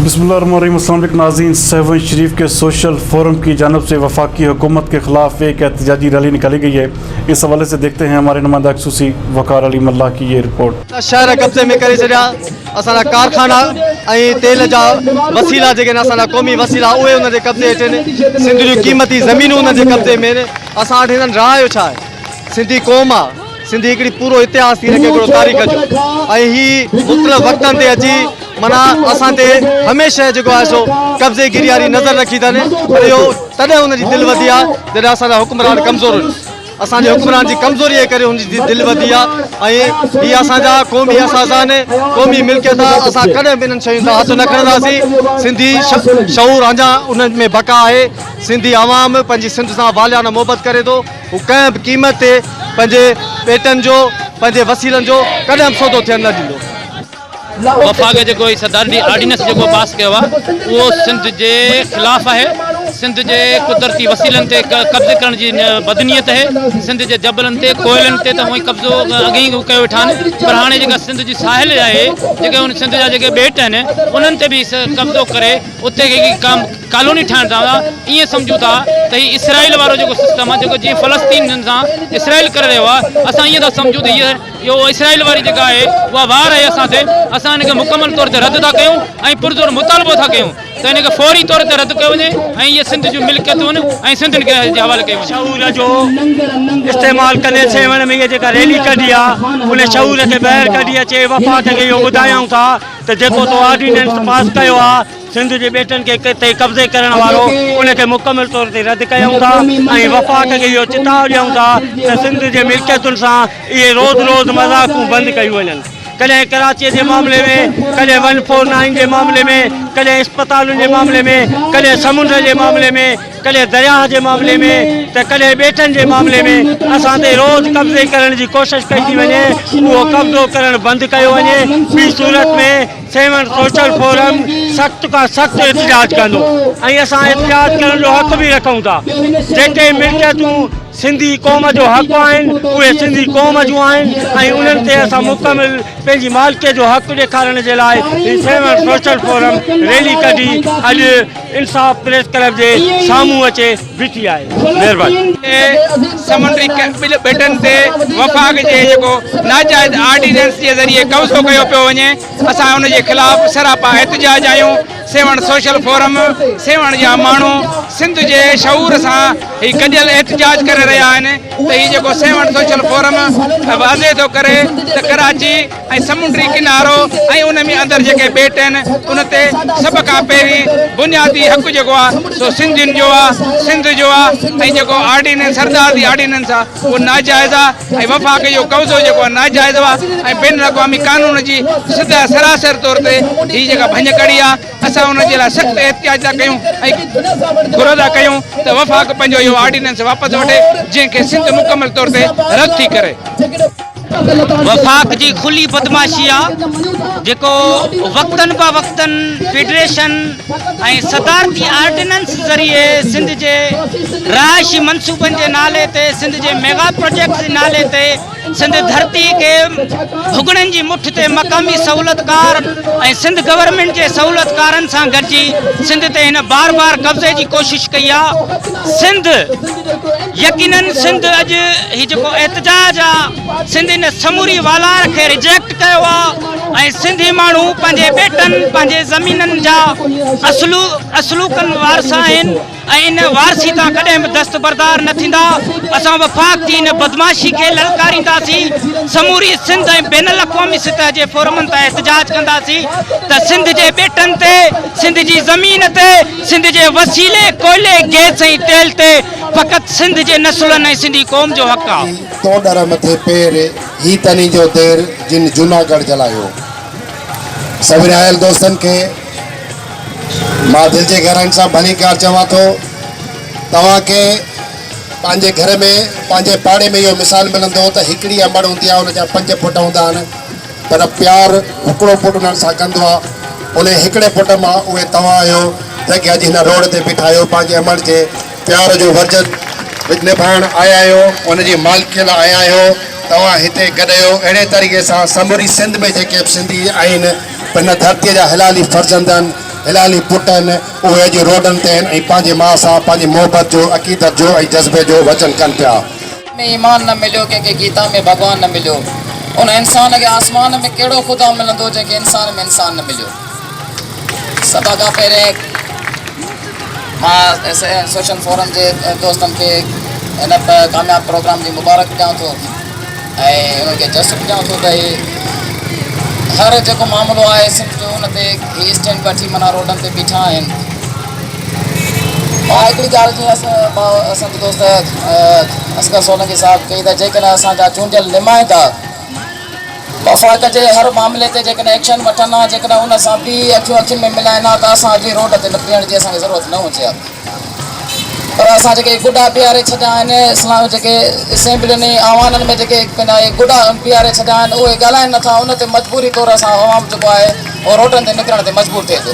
بسم الله الرحمن الرحيم السلام عليڪم ناظرين سيوهڻ شريف کي سوشل فورم ڪي جانب سي وفاقي حڪومت ڪي خلاف ايڪ احتجاجي ريلي نڪالي گئي هي اس حوالي سي ديکتي هين هماري نمائنده خصوصي وقار علي ملاح ڪي يي رپورٽ. شهر قبضي ۾ ڪري ڇڏيا اسان جا ڪارخانا ۽ تيل جا وسيلا جيڪي آهن اسان جا قومي وسيلا اهي انهن جي قبضي هيٺ آهن سنڌ جون قيمتي زمينون انهن جي قبضي ۾ آهن اسان وٽ هنن راء جو ڇا آهي سنڌي قوم آهي سنڌي هڪڙي پورو اتهاس ٿي رکي پورو تاريخ جو ۽ هي مختلف وقتن تي اچي منا اسان تي هميشه جيڪو آهي سو قبضي گيري واري نظر رکي ٿن پر اهو تڏهن ان جي دل وڌي آهي جڏهن اسان جا حڪمران ڪمزور هن اسان جي حڪمران جي ڪمزوري جي ڪري ان جي دل وڌي آهي ۽ هي اسان جا قومي احساس آهن قومي ملڪيت آهي اسان ڪڏهن به انهن شين تان هٿ نه کڻنداسين سنڌي شعور اڃا ان ۾ بقا آهي سنڌي عوام پنهنجي سنڌ سان واليانه محبت ڪري ٿو هو ڪنهن به قيمت تي پنهنجي ٻيٽن جو، پنهنجي وسيلن جو ڪڏهن به سودو ٿيڻ نه ڏيندو. وفاق جيڪو هي صدارتي آرڊيننس جيڪو پاس ڪيو آهي اهو سنڌ جي خلاف آهي، سنڌ جي قدرتي وسيلن تي قبضي ڪرڻ جي بدنيت اهي، سنڌ جي جبلن تي، ڪوئلن تي ته هونئن قبضو اڳ ئي ڪيو ويٺا آهن پر هاڻي جيڪا سنڌ جي ساحل آهي، جيڪي سنڌ جا جيڪي ٻيٽ آهن انهن تي به قبضو ڪري، اتي هڪ قام ڪالوني ٺاهڻ چاهيون ٿا ائين سمجهون ٿا ته هي اسرائيل وارو جيڪو سسٽم آهي جيڪو جيئن فلسطين جن سان اسرائيل ڪري رهيو آهي اسان ائين ٿا سمجهون ته هي اهو اسرائيل واري جيڪا آهي اها وار آهي اسان تي اسان ان کي مڪمل طور تي رد ٿا ڪيون ۽ پرزور مطالبو ٿا ڪيون ته ان کي فوري طور تي رد ڪيو وڃي ۽ اهي سنڌ جون ملڪيتون ۽ سنڌ کي جي حوالي ڪيون وڃي. شعور جو استعمال ڪندي سيوهڻ ۾ اهي جيڪا ريلي ڪڍي آهي ان شعور کي ٻاهر ڪڍي اچي وفاق کي اهو ٻڌايائون ٿا ته جيڪو تو آرڊيننس پاس ڪيو آ سنڌ جي ٻيٽن کي تي قبضي ڪرڻ وارو ان کي مڪمل طور تي رد ڪيون ٿا ۽ وفاق کي اهو چتاء ڏيون ٿا ته سنڌ جي ملڪيتن سان اهي روز روز مذاقون بند ڪيون وڃن ڪڏهن ڪراچي جي معاملي ۾ ڪڏهن ون فور نائين جي معاملي ۾ ڪڏهن اسپتالن جي معاملي ۾ ڪڏهن سمنڊ جي معاملي ۾. ڪڏهن درياهه جي معاملي ۾ ته ڪڏهن ٻيٽن جي معاملي ۾ اسان تي روز قبضي ڪرڻ جي ڪوشش ڪئي ٿي وڃي، اهو قبضو ڪرڻ بند ڪيو وڃي، ٻي صورت ۾ سيوهڻ سوشل فورم سخت کان سخت احتجاج ڪندو ۽ اسان احتجاج ڪرڻ جو حق به رکون ٿا، جيڪي ملڪيتون سنڌي قوم جو حق آهن اهي سنڌي قوم جون آهن ۽ انهن تي اسان مڪمل پنهنجي مالڪيت جو حق ڏيکارڻ جي لاء هي سيوهڻ سوشل فورم ريلي ڪڍي اڄ انصاف پريس ڪلب جي سامهون اچي بيٺي آهي مهرباني. سمنڊي ٻيٽن تي وفاق جي جيڪو ناجائز آرڊيننس جي ذريعي قبضو ڪيو پيو وڃي اسان ان جي خلاف سراپا احتجاج آهيون سيوهڻ سوشل فورم سيوهڻ جا ماڻهو سنڌ جي شعور سان هي گڏيل احتجاج ڪري رهيا آهن ته هي جيڪو سيوهڻ سوشل فورم واضح ٿو ڪري ته ڪراچي ۽ سمنڊي ڪنارو ۽ ان ۾ اندر جيڪي ٻيٽ آهن ان تي سڀ کان پهرين بنيادي حق جيڪو آ سو سنڌين جو آ سنڌ جو آ ۽ جيڪو آرڊيننس سردار جي آرڊيننس آ اهو ناجائز آ ۽ وفاق جو قبضو جيڪو آ ناجائز آ ۽ بين الاقوامي قانون جي سدا سراسر طور تي هي جيڪا ڀڃ ڪڙي آ اسان ان جي لاء سخت احتجاج ٿا ڪيون ۽ گهرو ٿا ڪيون ته وفاق پنهنجو اهو آرڊيننس واپس وٺي جنهن کي سنڌ مڪمل طور تي رد ٿي ڪري. وفاق جي کلي بدمعاشي آ جيڪو وقتن با وقتن فيڊريشن ۽ صدارتي آرڊيننس ذريعي سنڌ جي رهائشي منصوبن جي نالي تي سنڌ جي ميگا پروجيڪٽس جي نالي تي سنڌ ڌرتي کي ڀڳڙن جي مٺ تي مقامي سهولتڪار ۽ سنڌ گورنمينٽ جي سهولتڪارن سان گڏجي سنڌ تي هن بار بار قبضي جي ڪوشش ڪئي آ سنڌ يقينن سنڌ اڄ هي جيڪو احتجاج آ سنڌ ان سموري والار کي ريجيڪٽ ڪيو آ ۽ سنڌي ماڻهو پنهنجي ٻيٽن پنهنجي زمينن جا اصلو اصلوڪن وارث آهن ۽ ان وارثي تان ڪڏهن به دستبردار نه ٿيندا اسان وفاق جي ان بدمعاشي کي للڪارينداسين سموري سنڌ ۽ بين الاقوامي سطح جي فورمن تان احتجاج ڪنداسين ته سنڌ جي ٻيٽن تي سنڌ جي زمين تي سنڌ جي وسيلي ڪوئلي، گئس ۽ تيل تي فقط سنڌ جي نسلن ۽ سنڌي قوم جو حق آ. تو ڏر مٿي پير، هي تنين جو دير، جن جوناگڙھ جلايو. سڀني آيل دوستن کي مان دل جي گهرائين سان ڀليڪار چوان ٿو. توهان کي پنهنجي گهر ۾ پنهنجي پاڙي ۾ اهو مثال ملندو ته هڪڙي انبڙ هوندي آ ان جا پنج پٽ هوندا آهن. پر پيار هڪڙو پٽ انهن سان ڪندو آ. انهي هڪڙي پٽ مان اهي توهان آهيو جن کي اڄ هن روڊ تي بيٺايو پنهنجي امڙ جي پيار جو ورجن نڀائڻ آيا آهيو ان جي مالڪيء لاء آيا آهيو توهان هتي گڏ آهيو اهڙي طريقي سان سموري سنڌ ۾ جيڪي به سنڌي آهن هن ڌرتي جا حلالي فرزندن حلالي پٽن اهي اڄ روڊن تي آهن ۽ پنهنجي ماء سان پنهنجي محبت جو عقيدت جو ۽ جذبي جو وچن ڪن پيا. ۾ ايمان نه مليو، ڪنهن کي گيتا ۾ ڀڳوان نه مليو، ان انسان کي آسمان ۾ ڪهڙو خدا ملندو جنهن کي انسان ۾ انسان نه مليو. سڀ کان پهرين مان سوشل فورم جي دوستن کي هن ڪامياب پروگرام جي مبارڪ ڏيان ٿو ۽ انهن کي جسٽ ڏيان ٿو ته هي هر جيڪو معاملو آهي سنڌ جو ان تي هي اسٽينڊ وٺي منا روڊن تي بيٺا آهن ها هڪڙي ڳالهه جيئن اسان جي دوست اصغر سولنگي صاحب چئي ته جيڪڏهن اسان جا چونڊيل نمائندا وفاق جي هر معاملي تي جيڪڏهن ايڪشن وٺن ها جيڪڏهن ان سان به اکيون اکين ۾ ملائن ها ته اسان اڄ هي روڊ تي بيهڻ جي اسان کي ضرورت نه هجي ها پر اسان جيڪي گڊا بيهاري ڇڏيا آهن اسلام جيڪي اسيمبلين ۽ اوانن ۾ جيڪي گڊا بيهاري ڇڏيا آهن اهي ڳالهائين نٿا ان تي مجبوري طور اسان عوام جيڪو آهي اهو روڊن تي نڪرڻ تي مجبور ٿئي ٿو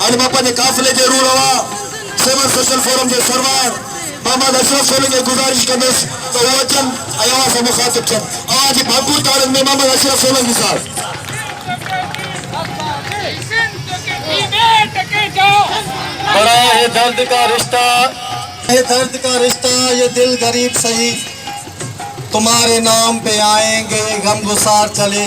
هن مان پنهنجي قافلي جي روح روا سول سوشل فورم جي سربراهه محمد اشرف سولنگي کي گذارش ڪندس ته هو اچن ۽ اوهان سان مخاطب ٿين. اوهان جي ڀرپور تاڙين ۾ محمد اشرف سولنگي صاحب. بڙا هي درد ڪا رشته. هي درد ڪا رشته يي دل غريب سهي تمهاري نام پي آئين گي غمگسار چلي.